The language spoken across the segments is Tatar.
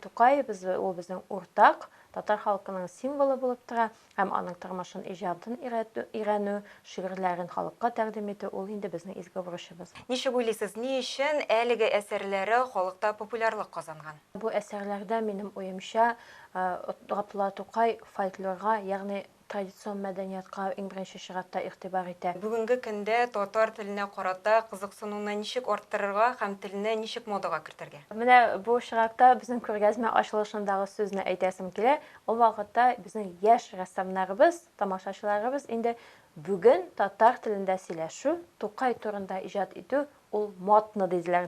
Тукай безе ул безнең уртак, татар халкының символы булып тора, һәм аның тормышын, иҗатын өйрәтү-өйрәнү, шигырьләрен халыкка тәкъдим итү ул инде безнең изге бурычыбыз. Ничек уйлыйсыз, ни өчен әлеге әсәрләре халыкта популярлык казанган? Бу әсәрләрдә, минем уемча, Габдулла Тукай фольклорга, ягъни традицион мәдәниятка иң беренче чиратта игътибар итә. Бүгенге көндә татар теленә карата кызыксынуны ничек арттырырга һәм телне ничек модага кертергә? Менә бу очракта безнең күргәзмә ачылышындагы сүзне әйтәсем килә. Ул вакытта безнең яшь рәссамнарыбыз, тамашачыларыбыз инде бүген татар телендә сөйләшү, Тукай турында иҗат итү, ул модно, диделәр.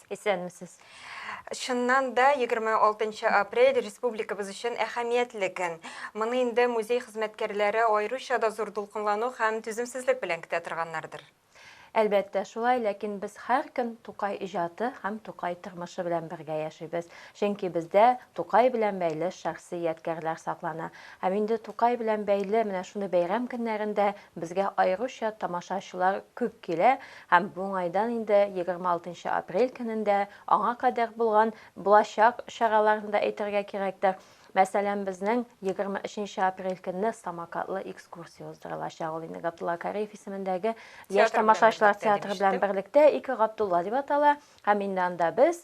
Исәнмесез. Чыннан да, 26 нчы апрель республикабыз өчен әһәмиятле көн. Моны инде музей хезмәткәрләре аеруча да зур дулкынлану һәм түземсезлек белән көтә торганнардыр. Әлбәттә, шулай, ләкин без һәр көн Тукай иҗаты һәм Тукай тормышы белән бергә яшибез. Чөнки бездә Тукай белән бәйле шәхси ядкярләр саклана. Һәм инде Тукай белән бәйле менә шундый бәйрәм көннәрендә Безгә аеруча тамашачылар күп килә һәм бу уңайдан инде 26 нчы апрель көнен дә, аңа кадәр булган, булачак чараларны да әйтергә кирәктер. Мәсәлән, безнең 23 нче апрель көнне самокатлы экскурсия уздырылачак, ул инде Габдулла Кариев исемендәге Яшь тамашачылар театры белән берлектә, Ике Габдулла дип атала, һәм инде анда без,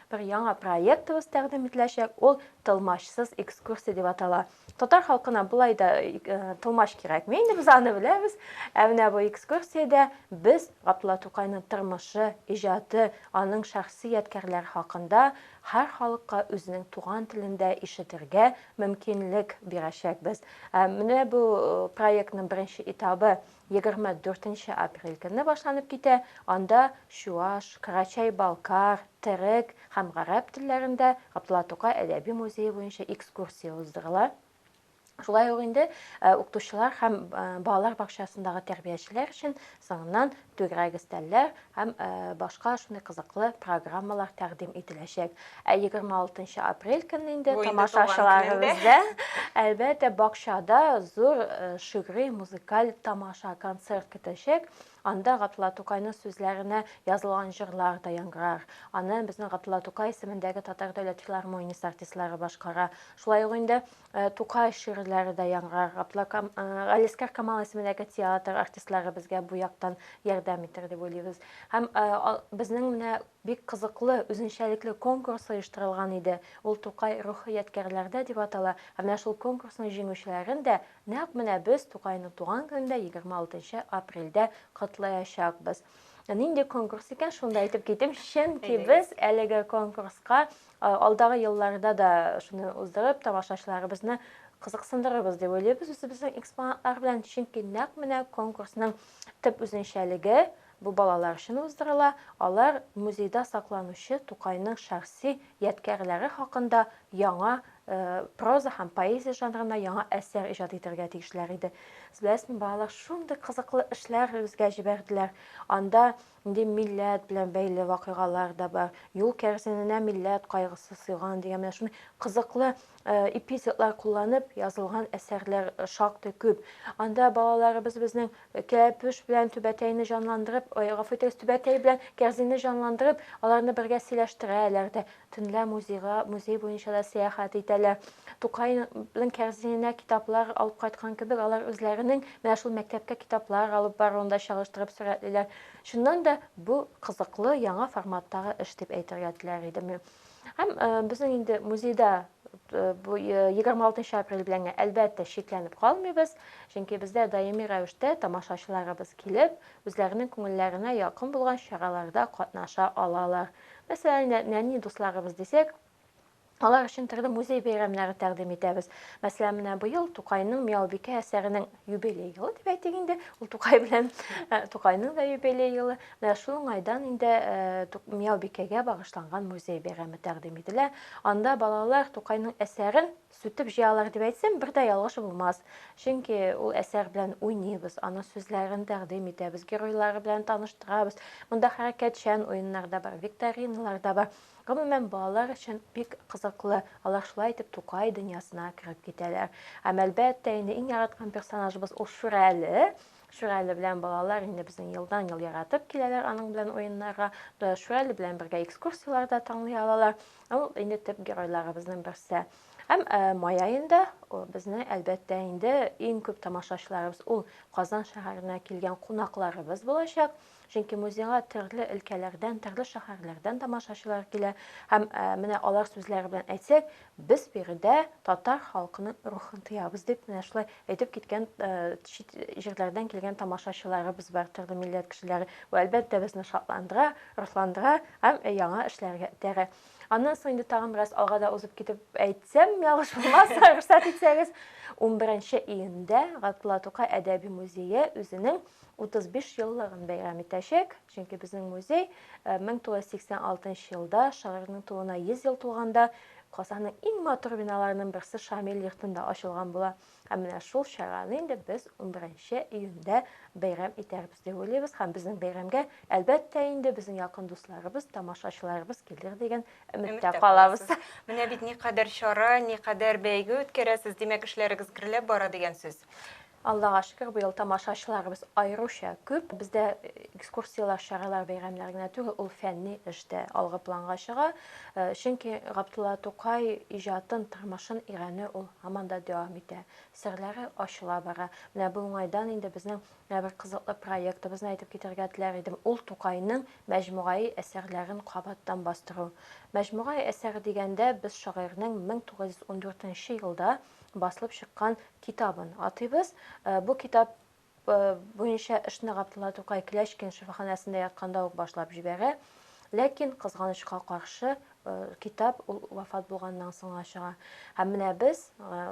Бер яңа проектыбыз тәкъдим ителәчәк, ул Тылмачсыз экскурсия дип атала. Татар халкына болай да тылмач кирәкми, инде без аны беләбез. Ә менә бу экскурсиядә без Габдулла Тукайның тормышы, иҗаты, аның шәхси ядкәрләре хакында һәр халыкка үзенең туган телендә ишетергә мөмкинлек бирәчәкбез. Менә бу проектның беренче этабы Егерме дүртенче апрель көнне башланып китә, анда чуаш, карачай-балкар, терек һәм гарәп телләрендә Габдулла Тукай әдәби музее буенча экскурсия уздырыла. Шулай ук инде укытучылар һәм балалар бакчасындагы тәрбиячеләр өчен соңыннан түгәрәк өстәлләр, һәм башка шундый кызыклы программалар тәкъдим ителәчәк. Ә 26 апрель көнне инде тамашачыларыбызда әлбәттә бакчада зур шигъри музыкаль тамаша концерт көтәчәк. Анда Гатла Тукайның сүзләренә язылган җырлар да яңгырар. Аны безнең Гатла Тукай исемендәге татар дәүләт филармониясе артистлары башкара. Шулай ук инде Ә, Тукай шигырьләре дә яңгырарга тла. Кам, ә, Галискар Камал исемендәге театр артистлары безгә бу яктан ярдәм итәр дип уйлыйбыз. Һәм, ә, ал, безнең менә бик кызыклы, үзенчәлекле конкурс оештырылган иде. Ул Тукай рухы ядкәрләрдә дип атала. Һәм менә шул конкурсның җиңүчеләрен дә нәкъ менә без Тукайның туган көнендә, 26 апрельдә котлаячакбыз. Нинди конкурс икән, шуны да әйтеп китим, чөнки Әйдәгез. без әлеге конкурска Алдагы елларда да шуны уздырып, тамашачыларыбызны кызыксындырырбыз дип уйлыйбыз үзебезнең экспонатлар белән, чөнки нәкъ менә конкурсның төп үзенчәлеге бу балалар өчен уздырыла, алар музейда сакланучы Тукайның шәхси ядкярләре хакында яңа проза һәм поэзия жанрына яңа әсәр иҗат итәргә тиешләр иде. Беләсезме, балалар шундый кызыклы эшләр безгә җибәрделәр, анда Инде милләт белән бәйле вакыйгалар да бар. Юл кәрзиненә милләт кайгысы сыйган дигән менә шундый кызыклы эпитетлар кулланып язылган әсәрләр шактый күп. Анда балаларыбыз безнең кәпүш белән түбәтәйне җанландырып, гафу итегез, түбәтәй белән кәрзинне җанландырып, аларны бергә сөйләштерәләр дә. Төнлә музейга, музей буенча да сәяхәт итәләр. Тукайның кәрзиненә китаплар алып кайткан кебек, алар үзләренең менә шул мәктәпкә китаплар алып баруын да чагыштырып сурәтлиләр. Чыннан да, бу кызыклы, яңа форматтагы эш дип әйтергә теләр идем. Һәм безнең инде музейда бу 26 апрель белән әлбәттә чикләнеп калмыйбыз, чөнки бездә даими рәвештә тамашачыларыбыз килеп, үзләренең күңелләренә якын булган чараларда катнаша алалар. Мәсәлән, нәни дусларыбыз дисәк, алар өчен төрле музей бәйрәмнәре тәкъдим итәбез. Мәсәлән, менә быел Тукайның Миялбикә әсәренең юбилей елы дип әйтик инде. Ул Тукай белән э, Тукайның да юбилей елы. Менә шул уңайдан инде э, Миялбикәгә багышланган музей бәйрәме тәкъдим ителә. Анда балалар Тукайның әсәрен сүтеп җыялар дип әйтсәм, бер дә ялгыш булмас. Чөнки ул әсәр белән уйныйбыз, аның сүзләрен тәкъдим итәбез, геройлары белән таныштырабыз. Монда хәрәкәтчән уеннар да бар, викториналар да бар. Гомумән, балалар өчен бик кызыклы. Алар шулай итеп Тукай дөньясына кереп китәләр. Һәм әлбәттә, инде иң яраткан персонажыбыз ул Шүрәле. Шүрәле белән балалар инде безнең елдан ел яратып киләләр аның белән уеннарга. Шүрәле белән бергә экскурсияләр дә тыңлый алалар. Ул инде төп геройларыбызның берсе. Һәм май аенда безне әлбәттә инде иң күп тамашачыларыбыз ул Казан шәһәренә килгән кунакларыбыз булачак. Чөнки музейга төрле өлкәләрдән, төрле шәһәрләрдән тамашачылар килә. Һәм менә алар сүзләре белән әйтсәк, без биредә татар халкының рухын тоябыз дип менә шулай әйтеп киткән чит җирләрдән килгән тамашачыларыбыз бар, төрле милләт кешеләре. Бу әлбәттә безне шатландыра. Расландыра һәм яңа эшләргә этәрә. Аннан соң инде тагын бераз алга да узып китеп әйтсәм, ялгыш булмас, рөхсәт итсәгез, 11 июньдә Габдулла Тукай әдәби музее үзенең 35 еллыгын бәйрәм итәчәк, чөнки безнең музей 1986 э, елда шагыйрьнең тууына 100 ел тулганда Казанның иң матур биналарының берсе Шамил йортында ачылган була. Һәм менә шул чараны инде без унберенче июньдә бәйрәм итәрбез дип уйлыйбыз һәм безнең бәйрәмгә, әлбәттә инде, безнең якын дусларыбыз, тамашачыларыбыз килер дигән өметтә калабыз. Менә бит никадәр чара, никадәр бәйге үткәрәсез, димәк, эшләрегез гөрләп бара дигән сүз. Аллага шөкер, быел тамашачыларыбыз аеруча күп. Бездә экскурсияләр, чаралар бәйрәмнәр генә түгел, ул фәнни эш тә алгы планга чыга. Чөнки Габдулла Тукай иҗатын, тормышын өйрәнү ул һаман да дәвам итә. Серләре ачыла бара. Менә бу уңайдан инде безнең менә бер кызыклы проектыбызны әйтеп китәргә теләр идем, ул Тукайның мәҗмугаи әсәрләрен кабаттан бастыру. Мәҗмугаи әсәре дигәндә без шагыйрьнең 1914 нче елда басылып чыккан китабын атыйбыз. Бу китап. буенча эшне Габдулла Тукай Клячкин шифаханәсендә ятканда ук башлап җибәрә. Ләкин, кызганычка каршы, китап ул вафат булганнан соң гына чыга. Һәм менә без,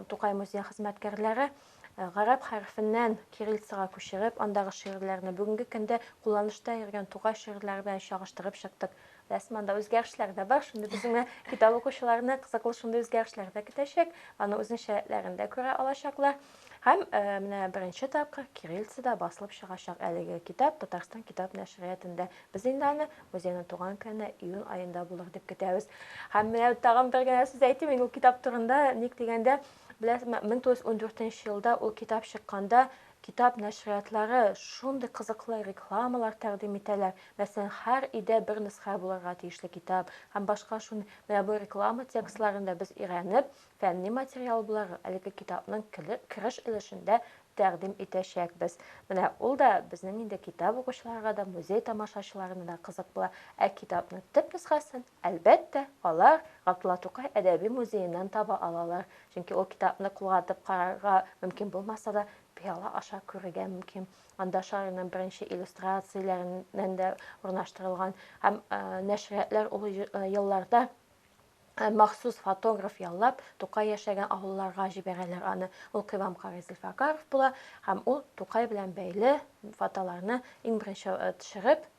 Тукай музее хезмәткәрләре, гарәп хәрефеннән кириллицага күчереп, андагы шигырьләрне, бүгенге көндә кулланышта йөргән Тукай шигырьләре белән чагыштырып чыктык. Рәсми анда үзгәрешләр дә бар. Шундый безнең китап укучыларны кызыклы шундый үзгәрешләр дә көтәчәк. Аны үзенчә рәтләрен дә күрә алачаклар. Һәм э, менә беренче тапкыр кириллицада басылып чыгачак әлеге китап Татарстан китап нәшриятендә. Без инде аны музейның туган көне июнь аенда булыр дип көтәбез. Һәм менә тагын бер генә сүз әйтим мин ул китап турында. Ник дигәндә, беләсезме, 1914 елда ул китап чыкканда Китап нәшриятлары шундый кызыклы рекламалар тәкъдим итәләр, мәсәлән, һәр өйдә бер нөсхә булырга тиешле китап һәм башка шундый. Менә бу реклама текстларын да без өйрәнеп, фәнни материал буларак, әлеге китапның кереш өлешендә тәкъдим итәчәкбез. Менә ул да безнең инде китап укучыларга да, музей тамашачыларына да кызык була. Ә китапның төп нөсхәсен Әлбәттә, алар Габдулла Тукай әдәби музееннан таба алалар, чөнки ул китапны кулга тотып карарга мөмкин булмаса да, пыяла аша күрергә мөмкин. Анда Шаринның беренче иллюстрацияләреннән дә урнаштырылган һәм нәшриятләр ул елларда махсус фотограф яллап, Тукай яшәгән авылларга җибәрәләр аны. Ул Кыйвам карый Зөлфәкаров була һәм ул Тукай белән бәйле фотоларны иң беренче төшереп,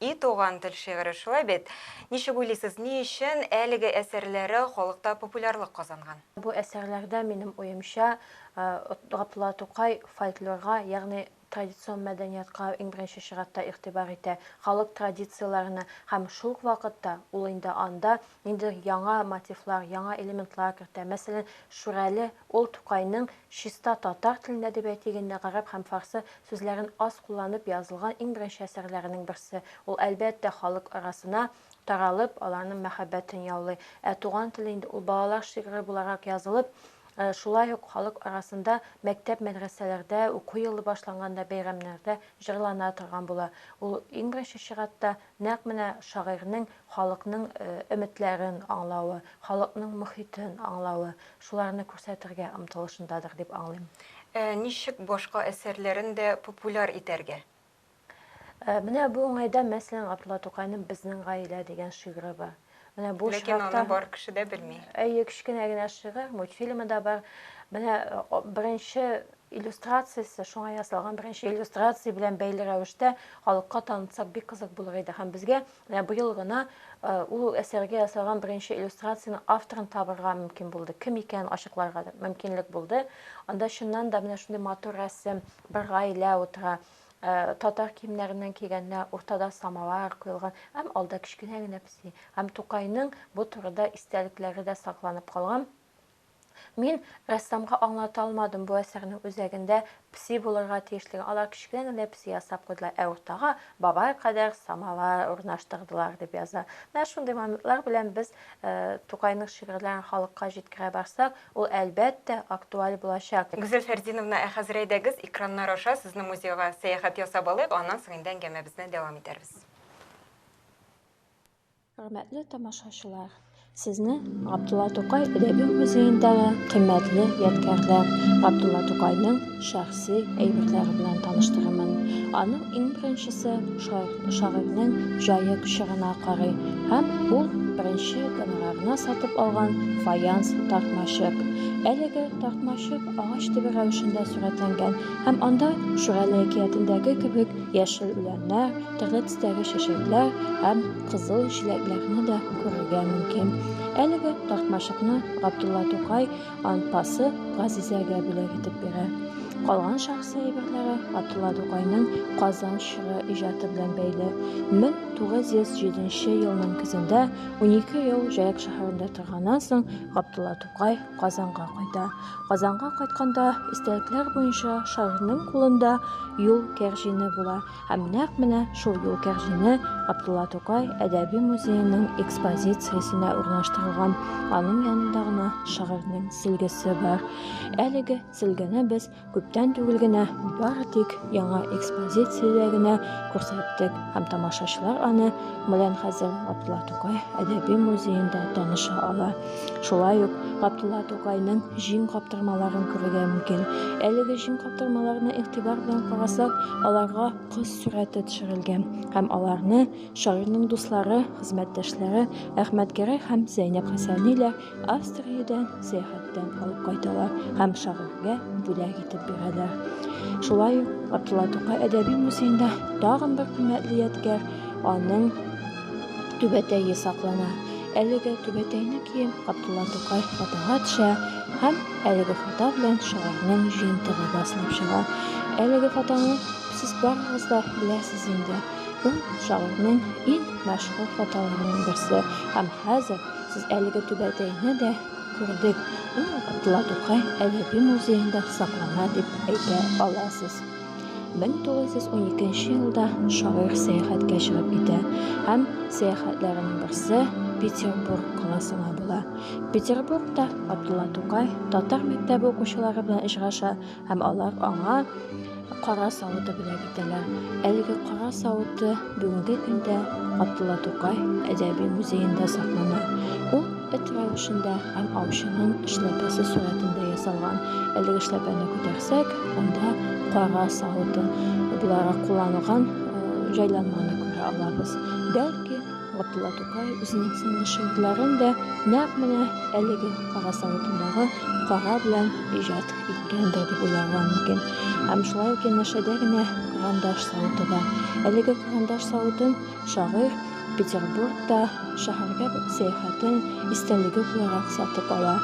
И туган тел шигыре, шулай бит? Ничек уйлыйсыз, ни өчен әлеге әсәрләре халыкта популярлык казанган? Бу әсәрләрдә, минем уемча, Габдулла Тукай фольклорга, ягъни традицион мәдәниятка иң беренче чиратта игътибар итә, халык традицияләренә һәм шул ук вакытта ул инде анда Инде яңа мотивлар, яңа элементлар кертә. Мәсәлән, Шүрәле ул Тукайның чиста татар телендә дип әйтик инде, гарәп һәм фарсы сүзләрен аз кулланып язылган иң беренче әсәрләренең берсе. Ул, әлбәттә, халык арасына таралып, аларның мәхәббәтен яулый. Ә Туган тел инде ул балалар шигыре буларак язылып, шулай ук халык арасында мәктәп-мәдрәсәләрдә, уку елы башланганда, бәйрәмнәрдә җырлана торган була. Ул, иң беренче чиратта, Нәкъ менә шагыйрьнең халыкның өметләрен аңлавы, халыкның мохитен аңлавы, шуларны күрсәтергә омтылышындадыр дип аңлыйм. Ә ничек башка әсәрләрен дә популяр итәргә? Менә бу уңайда, мәсәлән, Габдулла Тукайның Безнең гаилә дигән шигыре бар. Менә бу Ләкин очракта... аны бар кеше дә белми. Әйе, кечкенә генә шигырь, мультфильмы да бар. Менә беренче иллюстрациясе, шуңа ясалган беренче иллюстрация белән бәйле рәвештә халыкка танытсак бик кызык булыр иде. Һәм безгә менә быел гына ул әсәргә ясалган беренче иллюстрацияне авторын табырга мөмкин булды. Кем икәнен ачыкларга мөмкинлек булды. Анда чыннан да менә шундый матур рәсем, бер гаилә утыра. Татар киемнәреннән кигәннәр, уртада самавар куелган һәм алда кечкенә генә песи. Һәм Тукайның бу турыда истәлекләре дә сакланып калган. Мин рәссамга аңлата алмадым, бу әсәрнең үзәгендә песи булырга тиешлеген. Алар кечкенә генә песи ясап куйдылар, ә уртага бабай кадәр самавар урнаштырдылар, дип яза. Менә шундый моментлар белән без Тукайның шигырьләрен халыкка җиткерә барсак, Ул, әлбәттә, актуаль булачак. Гүзәл Фәрзиновна, ә хәзер әйдәгез, экраннар аша сезнең музейга сәяхәт ясап алыйк, аннан соң инде әңгәмәбезне дәвам итәрбез. Хөрмәтле тамашачылар, сезне Габдулла Тукай әдәби музеендагы кыйммәтле ядкярләр, Габдулла Тукайның, шәхси әйберләре белән таныштырырмын. Аның иң беренчесе шагыйрьнең җае чорына карый һәм ул беренче гонорарына сатып алган фаянс тартмачык. Әлеге тартмачык агач төбе рәвешендә сурәтләнгән һәм анда Шүрәле әкиятендәге кебек яшел үләннәр, төрле төстәге чәчәкләр һәм кызыл җиләкләрне дә күрергә мөмкин. Әлеге тартмачыкны Габдулла Тукай анпасы Газизәгә бүләк итеп бирә. Калган шәхси әйберләре Габдулла Тукайның Казан чоры иҗаты белән бәйле. 1907 елның көзендә, унике ел Җаек шәһәрендә торганнан соң, Габдулла Тукай Казанга кайта. Казанга кайтканда, истәлекләр буенча шагыйрьнең кулында юл кәрҗине була. Һәм нәкъ менә шул юл кәгъзине Габдулла Тукай әдәби музееның экспозициясенә урнаштырылган. Аның янында гына шагыйрьнең силгесе бар. Әлеге силгене без күптән түгел генә бары тик яңа экспозициядә генә күрсәттек һәм тамашачылар аны белән хәзер Габдулла Тукай әдәби музеенда таныша ала. Шулай ук Габдулла Тукайның җиң каптырмаларын күрергә мөмкин. Әлеге җиң каптырмаларына игътибар белән карасак, аларга кыз сурәте төшерелгән һәм аларны шагыйрьнең дуслары, хезмәттәшләре Әхмәт Гәрәй һәм Зәйнәп Хәсәниләр Австриядән сәяхәттән алып кайталар һәм шагыйрьгә бүләк итеп бирәләр. Шулай ук Габдулла Тукай әдәби музеенда тагын бер кыйммәтле ядкәр, аның түбәтәе саклана. Әлеге түбәтәйне кием Габдулла Тукай фотога төшә һәм әлеге фото белән шагыйрьнең җыентыгы басылып чыга. Әлеге фотоны сез барыгыз да беләсез инде. Ул шагыйрьнең иң мәшһүр фотоларының берсе. Һәм хәзер сез әлеге түбәтәйне дә күрдек. Ул Габдулла Тукай әдәби музеенда саклана дип әйтә аласыз. 1912 елда шагыйрь сәяхәткә чыгып китә һәм сәяхәтләренең берсе Петербург каласына була. Петербургта Абдулла Тукай татар мәктәбе укучылары белән очраша һәм алар аңа кара савыты бүләк итәләр. Әлеге кара савыты бүгенге көндә Абдулла Тукай әдәби музеенда саклана. Ул Эт рәвешендә һәм аучының эшләпәсе сурәтендә ясалган. Әлеге эшләпәне күтәрсәк, анда кара савыты буларак кулланылган җайланманы күрә алабыз. Бәлки, Габдулла Тукай үзенең соңгы шигырьләрен дә нәкъ менә әлеге кара савытындагы кара белән иҗат иткәндер дип уйларга мөмкин. Һәм шулай ук янәшәдә генә карандаш савыты бар. Әлеге карандаш савытын Шагыйрь Петербургта шәһәргә сәяхәтен истәлеге буларак сатып ала.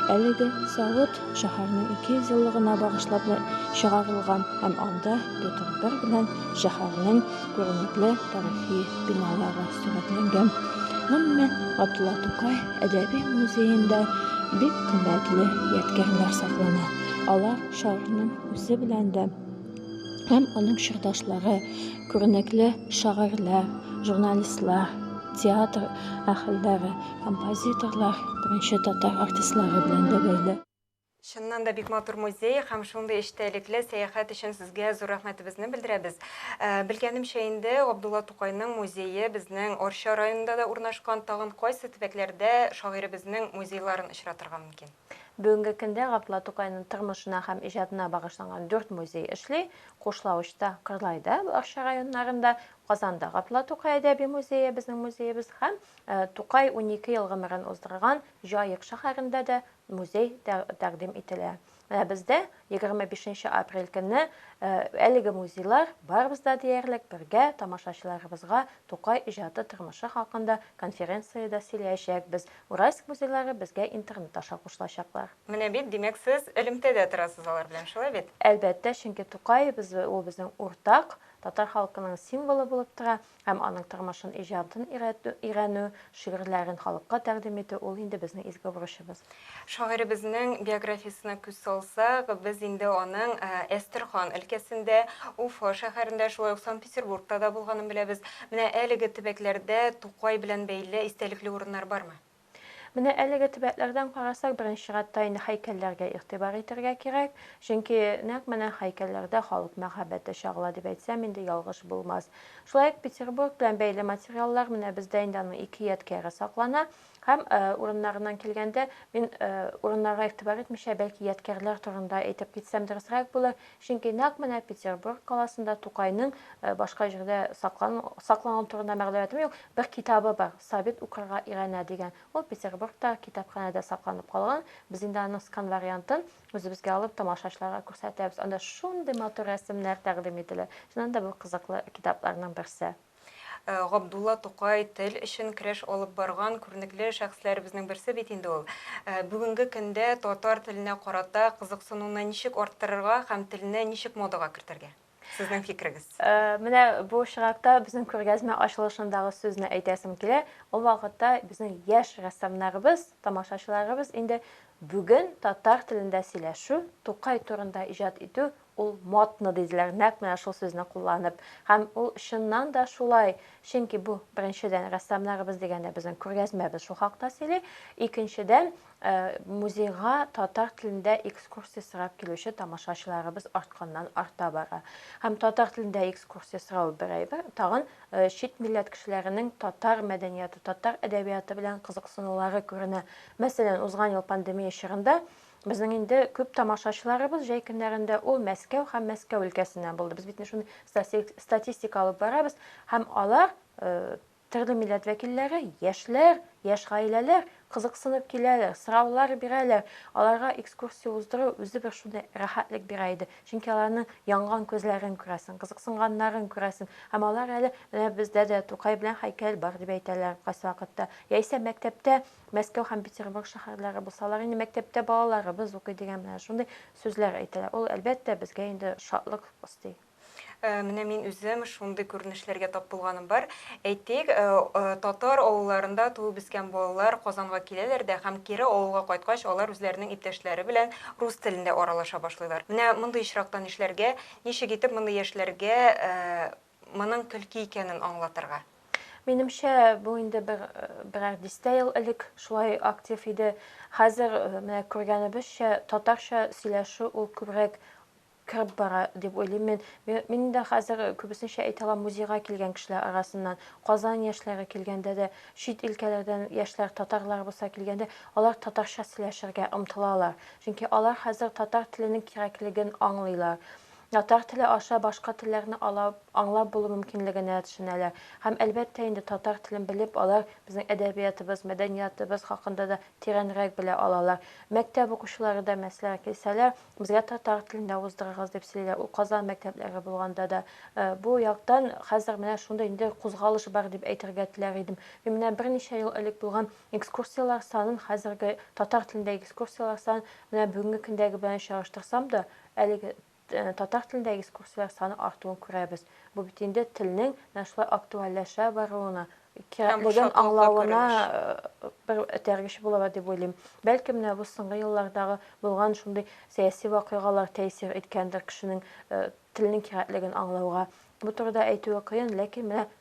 Әлеге савыт шәһәрнең 200 еллыгына багышлап чыгарылган һәм анда Петр I белән шәһәрнең күренекле тарихи биналары сурәтләнгән. Гомумән, Габдулла Тукай әдәби музеенда бик кыйммәтле ядкярләр саклана. Алар шагыйрьнең үзе белән дә һәм аның чордашлары, күренекле шагыйрьләр, журналистлар, театр әһелләре, композиторлар, беренче татар артистлары белән дә бәйле. Чыннан да бик матур музей һәм шундый эчтәлекле сәяхәт өчен сезгә зур рәхмәтебезне белдерәбез. Белгәнемчә инде, Габдулла Тукайның музее безнең Арча районында да урнашкан, тагын кайсы төбәкләрдә шагыйребезнең музейларын очратырга мөмкин? Бүгенге көндә Габдулла Тукайның тормышына һәм иҗатына багышланган дүрт музей эшли, Кушлавычта, Кырлайда, Арча районнарында, Казанда Габдулла Тукай әдәби музее, безнең музеебыз, һәм Тукай унике ел гомерен уздырган Җаек шәһәрендә дә музей тәкъдим ителә. Менә бездә Егерме бишенче апрель көнне әлеге музейлар барыбыз да диярлек бергә тамашачыларыбызга Тукай иҗаты тормышы хакында конференциядә сөйләячәкбез. Уральск музейлары безгә интернет аша кушылачаклар. Менә бит, димәк, сез элемтәдә торасыз алар белән, шулай бит? Әлбәттә, чөнки Тукаебыз, ул безнең уртак, татар халкының символы булып тора. Һәм аның тормышын, иҗатын өйрәтү, шигырьләрен халыкка тәкъдим итү, ул инде безнең изге бурычыбыз. Шагыйребезнең биографиясенә күз салсак, без инде аның Әстерхан өлкәсендә, Уфа шәһәрендә, шулай ук Санкт-Петербургта да булганын беләбез. Менә әлеге төбәкләрдә Тукай белән бәйле истәлекле урыннар бармы? Менә әлеге төбәкләрдән карасак, беренче чиратта инде һәйкәлләргә игътибар итәргә кирәк, чөнки нәкъ менә һәйкәлләрдә халык мәхәббәте чагыла дип әйтсәм инде ялгыш булмас. Шулай ук Петербург белән бәйле материаллар, менә бездә инде аның ике ядкяре саклана. Һәм урыннарыннан килгәндә, мин урыннарга игътибар итмичә, бәлки ядкярләр турында әйтеп китсәм дөресрәк булыр, Чөнки нәкъ менә Петербург каласында Тукайның, башка җирдә сакланган турында мәгълүматым юк, бер китабы бар, Сабит укырга өйрәнә дигән. Ул Петербургтагы китапханәдә сакланып калган. Без инде аның скан вариантын үзебезгә алып, тамашачыларга күрсәтәбез. Анда шундый матур рәсемнәр тәкъдим ителә. Чыннан да, бу кызыклы китапларның берсе. Габдулла Тукай тел өчен көрәш алып барган күренекле шәхесләребезнең берсе бит инде ул. Бүгенге көндә татар теленә карата кызыксынуны ничек арттырырга һәм телне ничек модага кертергә? Сезнең фикерегез. Менә бу очракта безнең күргәзмә ачылышындагы сүзне әйтәсем килә. Ул вакытта безнең яшь рәссамнарыбыз, тамашачыларыбыз инде бүген татар телендә сөйләшү, Тукай турында иҗат итү Ул модно диделәр, нәкъ менә шул сүзне кулланып. Һәм ул чыннан да шулай, чөнки бу, беренчедән, рәссамнарыбыз дигәндә безнең күргәзмәбез шул хакта сөйли, икенчедән, э, музейга татар телендә экскурсия сорап килүче тамашачыларыбыз артканнан-арта бара. Һәм татар телендә экскурсия сорау бер әйбер, тагын э, чит милләт кешеләренең татар мәдәнияты, татар әдәбияты белән кызыксынулары күренә. Мәсәлән, узган ел пандемия чорында Безнең инде күп тамашачыларыбыз җәй көннәрендә ул Мәскәү һәм Мәскәү өлкәсеннән булды. Без бит менә шундый статистика алып барабыз һәм алар төрле милләт вәкилләре, яшьләр, яшь гаиләләр кызыксынып киләләр, сораулар бирәләр. Аларга экскурсия уздыру үзе бер шундый рәхәтлек бирә иде. Чөнки аларның янган күзләрен күрәсең, кызыксынганнарын күрәсең. Һәм алар әле, менә бездә дә Тукай белән һәйкәл бар, дип әйтәләр кайсы вакытта. Яисә мәктәптә Мәскәү һәм Петербург шәһәрләре булсалар инде мәктәптә балаларыбыз укый дигән менә шундый сүзләр әйтәләр. Ул, әлбәттә, безгә инде шатлык өсти. Менә мин үзем шундый күренешләргә тап булганым бар. Әйтик, татар авылларында туып-үскән балалар Казанга киләләр дә һәм кире авылга кайткач, алар үзләренең иптәшләре белән рус телендә аралаша башлыйлар. Менә мондый очракта нишләргә? Ничек итеп мондый яшьләргә Моның көлке икәнен аңлатырга. Минемчә, бу инде бер, берәр дистә ел элек шулай актив иде. Хәзер, менә күргәнебезчә, татарча сөйләшү ул күбрәк кереп бара, дип уйлыйм мин. Мин дә хәзер күбесенчә әйтә алам, музейга килгән кешеләр арасыннан, Казан яшьләре килгәндә дә, чит илкәләрдән яшьләр, татарларыбыз да килгәндә, алар татарча сөйләшергә омтылалар. Чөнки алар хәзер татар теленең кирәклеген аңлыйлар. Татар теле аша башка телләрне алап, аңлап булу мөмкинлегенә төшенәләр. Һәм, әлбәттә инде, татар телен белеп, алар безнең әдәбиятыбыз, мәдәниятыбыз хакында да тирәнрәк белә алалар. Мәктәп укучылары да, мәсьәлән, килсәләр, безгә татар телендә уздырыгыз, дип сөйлиләр. Ул Казан мәктәпләре булганда да. Бу яктан хәзер менә шундый инде кузгалыш бар, дип әйтергә теләр идем. Мин менә берничә ел элек булган экскурсияләр санын, хәзерге татар телендәге экскурсияләр санын менә бүгенге көндәге белән чагыштырсам да, Әлеге татар телендә экскурсияләр саны артуын күрәбез. Бу бит инде телнең менә шулай актуальләшә баруына, кирәклеген аңлавына бер этәргеч булыр дип уйлыйм. Бәлки менә бу соңгы еллардагы булган шундый сәяси вакыйгалар тәэсир иткәндер кешенең телнең кирәклеген аңлауга. Бу турыда әйтүе кыен, ләкин менә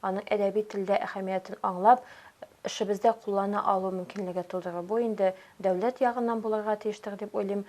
Аның әдәби телдә әһәмиятен аңлап, эшебездә куллана алу мөмкинлеге тудыру, бу инде дәүләт ягыннан булырга тиештер дип уйлыйм.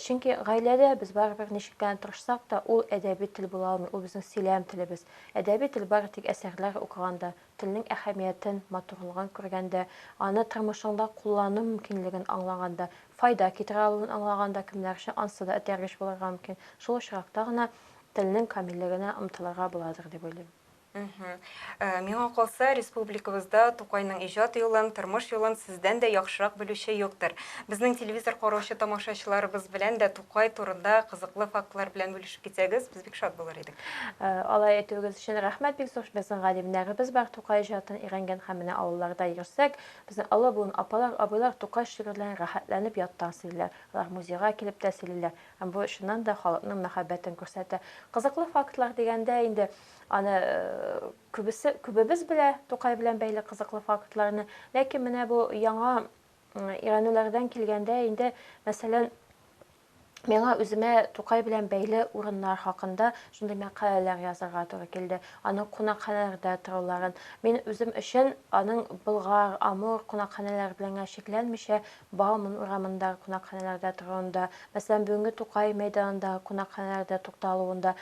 Чөнки гаиләдә без барыбер ничек кенә тырышсак та, ул әдәби тел була алмый, ул безнең сөйләм телебез. Әдәби тел бары тик әсәрләр укыганда, телнең әһәмиятен, матурлыгын күргәндә, аны тормышыңда куллану мөмкинлеген аңлаганда, файда китерә алуын аңлаганда кемнәр өчен ансы да этәргеч булырга мөмкин, шул очракта гына телнең камиллегенә омтылырга буладыр дип уйлыйм. Мгм. Э, Миңа калса, республикабызда Тукайның иҗат юлын, тормыш юлын сездән дә яхшырак белүче юктыр. Безнең телевизор караучы тамашачыларыбыз белән дә Тукай турында кызыклы фактлар белән бүлешеп китсәгез, без бик шат булыр идек. Э, Алай әйтүегез өчен рәхмәт, бик зур. Безнең галимнәребез бар, Тукай иҗатын өйрәнгән һәм менә авылларда йөрсәк, безнең олы буын апалар, абыйлар Тукай шигырьләрен рәхәтләнеп яттан сөйлиләр. Алар музейга килеп тә сөйлиләр. Һәм бу чыннан да халыкның мәхәббәтен күрсәтә. Кызыклы фактлар дигәндә инде, Аны күбесе, күбебез белә Тукай белән бәйле кызыклы фактларны. Ләкин менә бу яңа өйрәнүләрдән килгәндә инде, мәсәлән, Миңа үземә Тукай белән бәйле урыннар хакында шундый мәкаләләр язарга туры килде. Аның кунакханәләрдә торуларын. Мин үзем өчен аның Болгар, Амур кунакханәләре белән генә чикләнмичә, Бауман урамындагы кунакханәләрдә торуында, мәсәлән, бүгенге Тукай мәйданындагы кунакханәләрдә тукталуында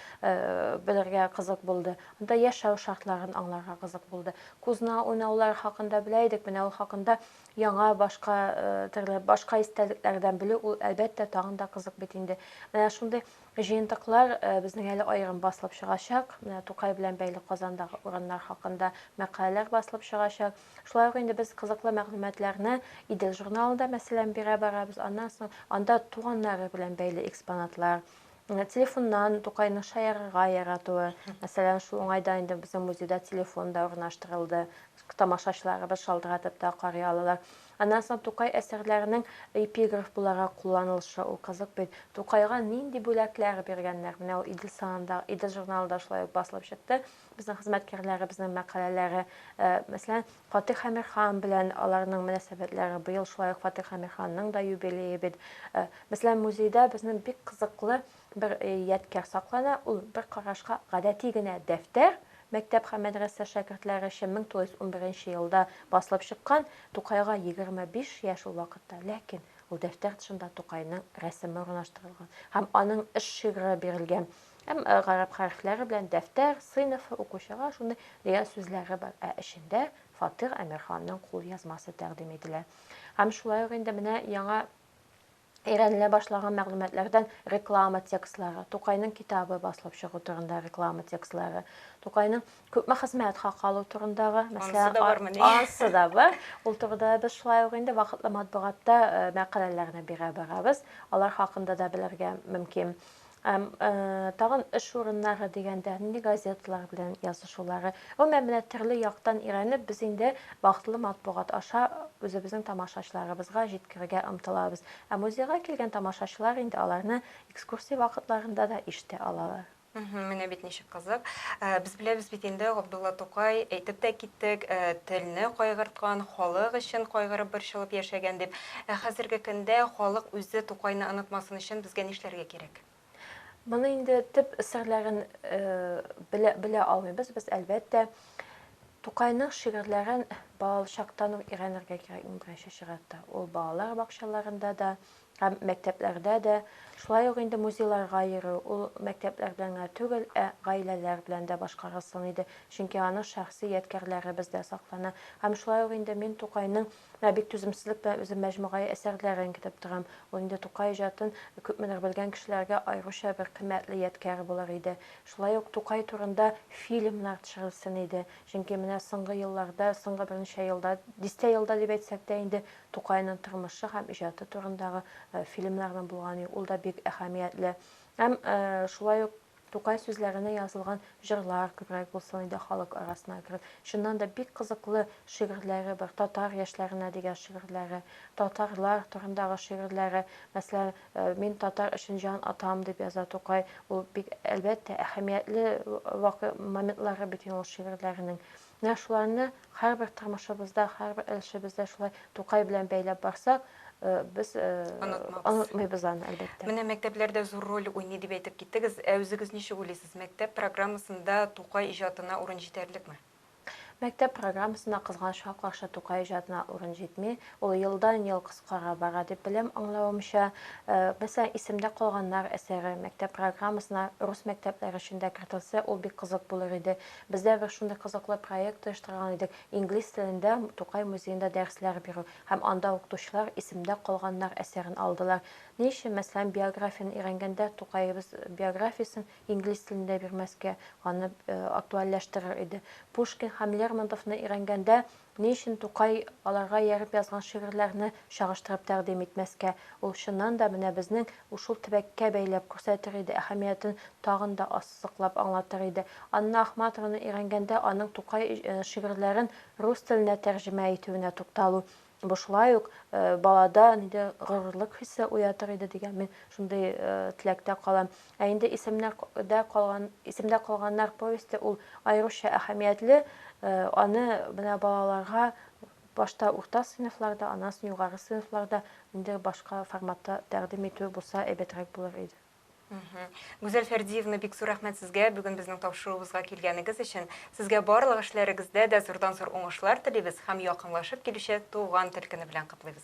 белергә кызык булды. Анда яшәү шартларын аңларга кызык булды. Кузна уйнаулары хакында белә идек, менә ул хакында яңа, башка төрле, башка истәлекләрдән белү, ул, әлбәттә, тагын да кызык бит инде. Менә шундый җыентыклар безнең әле аерым басылып чыгачак. Менә Тукай белән бәйле Казандагы урыннар хакында мәкаләләр басылып чыгачак. Шулай ук инде без кызыклы мәгълүматларны Идел журналында, мәсәлән, бирә барабыз. Аннан соң анда туганнары белән бәйле экспонатлар, телефоннан Тукайның шаярырга яратуы, мәсәлән, шул уңайдан инде безнең музейда телефон да урнаштырылды. Тамашачыларыбыз шалтыратып та карый алалар. Аннан соң Тукай әсәрләренең эпиграф буларак кулланылышы ул кызык бит. Тукайга нинди бүләкләр биргәннәр? Менә ул Идел санында, Идел журналында шулай ук басылып чыкты. Безнең хезмәткәрләребезнең мәкаләләре, мәсәлән, Фатих Әмирхан белән аларның мөнәсәбәтләре, быел шулай ук Фатих Әмирханның да юбилее бит. Мәсәлән, музейда безнең бик кызыклы бер ядкәр саклана, ул бер карашка гадәти генә дәфтәр, мәктәп һәм мәдрәсә шәкертләре өчен 1911 елда басылып чыккан, Тукайга 25 яшь ул вакытта, ләкин ул дәфтәр тышында Тукайның рәсеме урнаштырылган һәм аның эш шигъре бирелгән. Һәм гарәп хәрефләре белән дәфтәр, сыйныф, укучыга шундый реаль сүзләре бар. Ә эчендә Фатыйх Әмирханның кулъязмасы тәкъдим ителә. Һәм шулай ук инде менә яңа өйрәнелә башлаган мәгълүматлардан реклама текстлары, Тукайның китабы басылып чыгу турында реклама текстлары, Тукайның күпме хезмәт хакы алу турындагы, мәсәлән, ансы да бар. Ул турыда без шулай ук инде вакытлы матбугатта мәкаләләрне бирә барабыз. Алар хакында да белергә мөмкин. Әм, ә, тагын эш урыннары дигәндә, нинди газеталар белән язышулары. Гомумән, менә төрле яктан өйрәнеп, без инде вакытлы матбугат аша үзебезнең тамашачыларыбызга җиткерергә омтылабыз. Ә музейга килгән тамашачылар инде аларны экскурсия вакытларында да ишетә алалар. Мхм, менә бит ничек кызык. Ә, без беләбез бит инде, Габдулла Тукай, әйтеп тә киттек, ә, телне кайгырткан, халык өчен кайгырып-борчылып яшәгән дип. Ә хәзерге көндә халык үзе Тукайны онытмасын өчен безгә нишләргә кирәк? Моны инде төп серләрен белә белә алмыйбыз без, әлбәттә. Тукайның шигырьләрен балалы чактан ук өйрәнергә кирәк иң беренче чиратта. Ул балалар бакчаларында да һәм мәктәпләрдә дә, шулай ук инде музейларга йөрү, ул мәктәпләр белән генә түгел, ә гаиләләр белән дә башкарылсын иде, чөнки аның шәхси ядкәрләре бездә саклана. Һәм шулай ук инде мин Тукайның Менә бик түземсезлек белән үзем мәҗмугаи әсәрләрен көтеп торам. Ул инде Тукай иҗатын күпмедер белгән кешеләргә аеруча бер кыйммәтле ядкәр булыр иде. Шулай ук Тукай турында фильмнар төшерелсен иде. Чөнки менә соңгы елларда, соңгы берничә елда, дистә елда дип әйтсәк тә инде, Тукайның тормышы һәм иҗаты турындагы фильмнарның булганы юк. Ул да бик әһәмиятле. Һәм шулай ук. Тукай сүзләренә язылган җырлар күбрәк булсын иде халык арасына кереп. Чыннан да бик кызыклы шигырьләре бар. Татар яшьләренә дигән шигырьләре, татарлар турындагы шигырьләре. Мәсәлән, Мин татар өчен җан атам, дип яза Тукай. Ул бик, әлбәттә, әһәмиятле вакый моментлары бит инде ул шигырьләренең. Менә шуларны һәрбер тормышыбызда, һәрбер өлешебездә шулай Тукай белән бәйләп барсак, без онытмыйбыз аны, әлбәттә. Менә мәктәпләр дә зур роль уйный дип әйтеп киттегез. Ә үзегез ничек уйлыйсыз, мәктәп программасында Тукай иҗатына урын җитәрлекме? Мәктәп программасында, кызганычка каршы, Тукай иҗатына урын җитми. Ул елдан-ел кыскара бара дип беләм, аңлавымча. Мәсәлән, Исемдә калганнар әсәре мәктәп программасына рус мәктәпләре өчен дә кертелсә, ул бик кызык булыр иде. Без дә бер шундый кызыклы проект оештырган идек, инглиз телендә Тукай музеенда дәресләр бирү, һәм анда укытучылар Исемдә калганнар әсәрен алдылар. Ни өчен, мәсәлән, биографияне өйрәнгәндә Тукаебыз биографиясен инглиз телендә бирмәскә, аны актуальләштерер иде. Пушкин һәм Лермонтовны өйрәнгәндә Ни өчен Тукай аларга ияреп язган шигырьләрне чагыштырып тәкъдим итмәскә? Ул, чыннан да, менә безнең ушул төбәккә бәйләп күрсәтер иде, әһәмиятен тагын да ассызыклап аңлатыр иде. Анна Ахматованы өйрәнгәндә аның Тукай шигырьләрен рус теленә тәрҗемә итүенә тукталу, бу шулай ук балада ниндидер горурлык хисе уятыр иде дигән мин шундый теләктә калам. Ә инде Исемнәр дә калган, Исемдә калганнар повесте ул аеруча әһәмиятле, аны менә балаларга башта урта сыйныфларда, аннан соң югары сыйныфларда ниндидер башка форматта тәкъдим итү булса әйбәтрәк булыр иде. Гүзәл Фәрдиевна, бик зур рәхмәт сезгә бүген безнең тапшыруыбызга килгәнегез өчен. Сезгә барлык эшләрегездә дә зурдан-зур уңышлар телибез һәм якынлашып килүче Туган тел көне белән котлыйбыз.